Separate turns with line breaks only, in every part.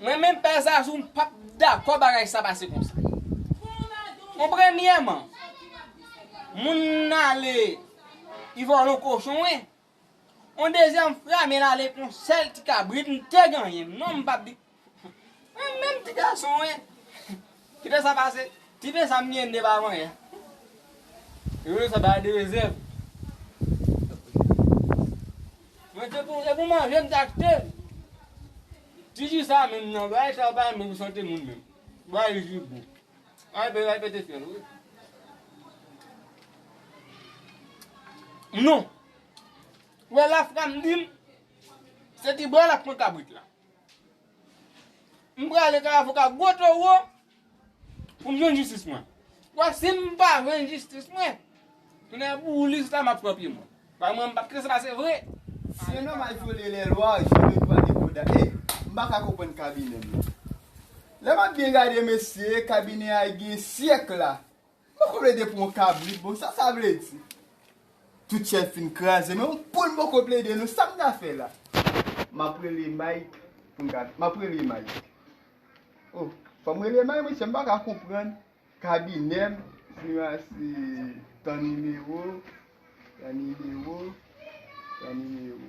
Mwen menm pè zazou m pap dakò bagay sa pase konsa. Bon premyèman moun nan ale li vòlon kochon wi. Bon dezyèm fra men ale kon sèl ti kabrit m te genyen non m pap di. Mwen menm ti gason wi. Kite sa pase. Ti pen sa m gen de pa manyen. Yo rele sa bagay de rezèv. Mwen te pou e pou manje m te achte l. Ti ji sa menm nan bagay sa yo pa bon pou sante moun menm. Bagay ji gou. An bagay pete fyèl wi. Non. Ou wè lafranm di m se ti bò lap pran kabrit la. M prale kay avoka gwo towo pou m jwenn jistis mwen. Paske si m pa jwenn jistis mwen, tounen an pou Ulysse la m ap pran pye mwen. Paske mwen m pa p kite sa pase vre. Si yon nonm al
vyole lèlwa, je le dois de konda e m pa ka konprann kabinè m nan. Lè m ap byen gade mesye, kabinè a gen syèk la Mwen poko plede pou yon kabrit bon sa sa vle di tout chèn fin kraze men yon poul mwen poko plede non sam ta fè la map rele Mike poum ka map rele Mike oh fòm rele Mike mesye m paka konprann kabinèm sinon a se tan nimewo tan nimewo tan nimewo.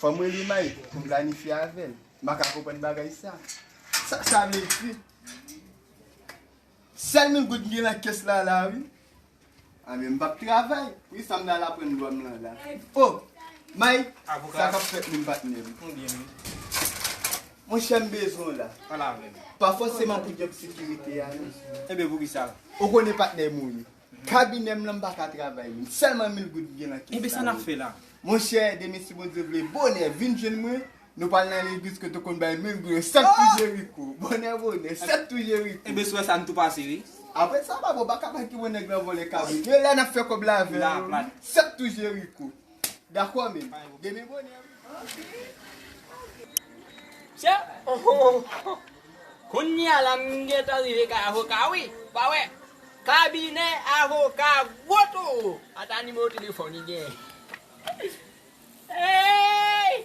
Fòm rele May poum planifye avèl. Maka konprann bagay sa. Sak sa vle di. Sèl mil goud mgen nan kès la la wi. A men mpap travay. Wi sam nan al aprann dwam lan la. Oh May sa kap fèt menm patnèm. Monchè mbezwen w la. Pa
fòseman
pou djòb sekirite a non. Enben poukisa.
Ou konnen patnèm
ou ye. Kabinè m lan m pa ka travay menm. Sèlman mil goud ki gen nan kès la. Enben sa n ap fè la?
Monchè demen si
Bondye vle bonè vin jwenn mwen. Nou pral nan legliz kote w konn bay mil goud yo. Sèt tou Jeriko. Bonè bonè. Sèt tou Jeriko. Enben swè sa n tou pase
wi. Apre sa papa w pa
ka bay pi bon nèg lan vòlè kabrit. Yo la n ap fè kòb la avè yo. Sèt tou Jeriko. Dakò men, demen bonè wi. Mesye
ooh Kounya la m gentan rive kay avoka wi Ou pa wè Kabinè avoka gwo toro Ata nimewo telefòn li genyen Eeyy.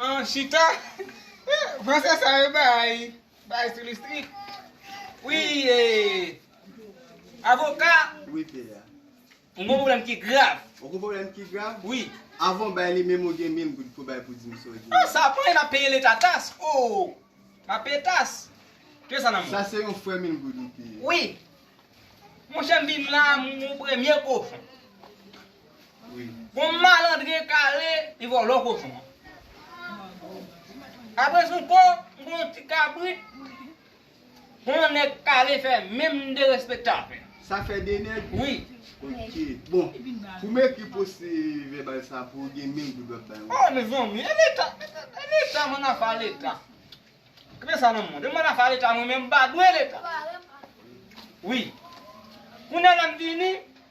An chita
Franse sa yo bay Bay sou listrik Wi Avoka Wi Pia
M gon pwoblèm
ki grav Ou gon pwoblèm ki
grav Wi Avan w
bay li menm
ou gen mil goud pou w bay pou di m sa w genyen Sa pran e m ap
peye leta tas Ohh M ap peye tas Pye sa nan men w Sa se yon frè mil goud
wi Pia Wi
Monchè m vin la m premye kochon
Yon
malandren kare li vòlò kochon an. Apre zonko m konn yon ti kabrit kon yon nèg kare fè menm derespektan avè. Sa fè 2 nèg?
Wi. Ok.
Bon,
pou m ekri pwosè vèbal sa pou ou gen menm doub w ap bay mwen. Oh mezanmi, e
leta, e leta mwen nan afa leta. Kite sa nan mwen. Mwen nan afa leta mwen menm m pa dwe leta. Wi. Kounye a lè m vini,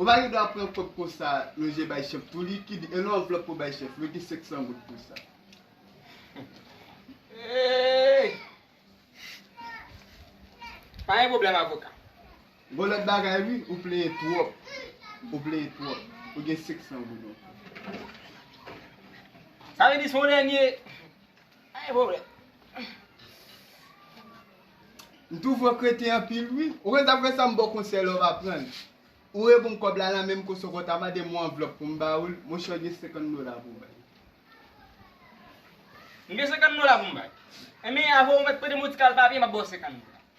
Omayo dwa pran kob konsa yon je bay chef tou li ki di e lon anvlop pou bay chef mete 500 goud pou sa.
Pa gen pwoblèm avoka. Gon lòt
bagay wi ou plenyen twòp ou plenyen twòp ou gen 500 goud ankò.
Sa vle di si w dènye. Pa gen
pwoblèm. M twouve w kreten anpil wi. Ou konn sa pou fè sa m ba w konsèy la w va pran l. Ou reponn m kòb la lan menm kòso kò w ta mande m yon anvlòp pou m ba ou l, mwen chwa gen 50 dola pou w bay. M gen 50 dola pou m bay. Enben
avè w mèt prete m yon ti kal papye m ap ba w 50 dola.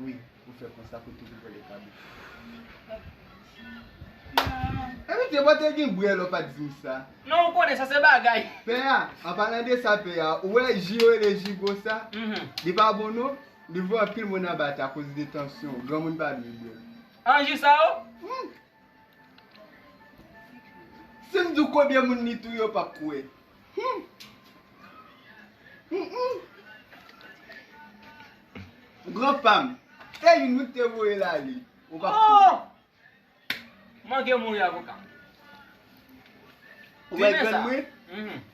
Wi ou
fè konsa kote li vole kado. Epi te bò te gen bwè lè w pa t di m sa. Non ou konnen sa se
bagay. Pè a, an palan
de sa pè a, ou wè ji yo rele ji gwo sa, li pa bon non, li voye anpil moun anba tè akoz de tansyon, granmoun pa dwe bwè l. An ji sa
ou?
Si m di w konbyen moun li touye, w p ap kwè. Gran pa m, se youn wi k te voye l ale. Ou p ap kwè.
Mangue mouri avoka.
Ou wè grann mwen?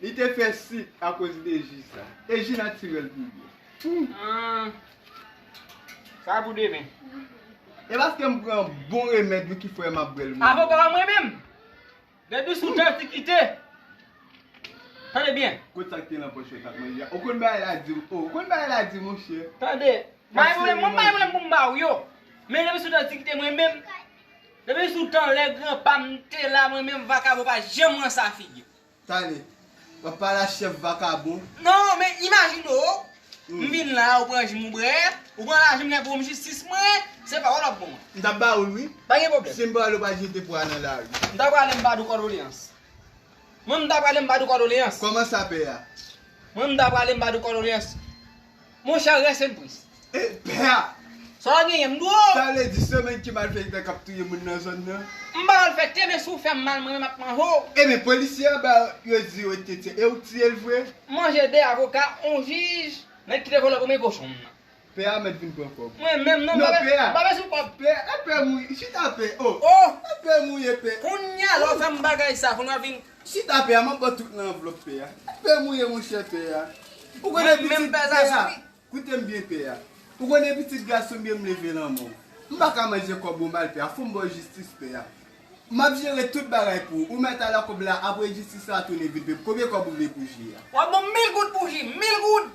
Li te fè sik akoz de ji sa. E ji natirèl pi bon.
Sa pou demen. E
paske m pran bon remèd wi ki fè m ap bwè l. Avoka a mwen menm.
Depi sou tantikite. Tande byen. Kot sa ki te nan pòch yo tap
manje a. Ou konn bagay la di. Ou konn bagay la di monchè. Tande.
Mwen bay mwen pou m ba ou yo. Men depi sou tantikite mwen menm. Depi sou tan lè gran pa m te la mwen menm vakabon pa janm ranse a figi. Tande.
Wap pale a chèf vakabon. Non men
imajine w m vin la ou pran jus m ou bre, ou pran lajan m lè pou m jistis mwen, se pawòl wap ban mwen. M tap ba ou l wi. Pa
gen pwoblèm. Si m pa ale
w pa jete pwa
nan lari. M ta prale m pa di w
kòdoleyans. Mwen m ta prale m pa di w kòdoleyans. Kòman sa pè a?
Mwen m ta
prale m pa di w kòdoleyans. Mon cher rest in peace. E pè a!
Sa w genyen m
di w o! Sa vle di se menm
ki malfekte kap touye moun nan zòn nan? M pa malfekte men
si w fè m mal mwen menm ap manje w. E men polisye an
ba yo di yo te tiye e ou tiye l vre? M manje 2 avoka,
on jij, nèg ki te vòlò premye kochon m nan. Pè a mèt vin
pran kòb. Mwen menm non m
pa bezwen kòb.
Pè
a, e pè m ou ye?
Chita pè, oh! Oh! E pè m ou ye
pè?
Kounya lè w fè m
bagay sa kounya w vin Chita pè a map baw
tout nan anvlop pè a pè mouye monchè pè a ou konnen pitit pè
a koutem
byen
pè a
ou konnen pitit gason byen mleve lan mò m paka manje kòb ou mal pè a fòm baw jistis pè a map jere tout bagay pou ou ou mèt ala kòb la apre jistis la tounen vid pè m konbyen kòb ou vle pou ji a. Wap banm mil goud pou
ji, mil goud!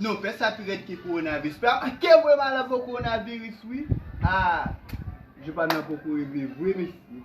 Non pès sa pi rèd ke kowonavis Pè a te voye mal avèw kowonaviris wi Haa Jou pam nan poko rive vre mesye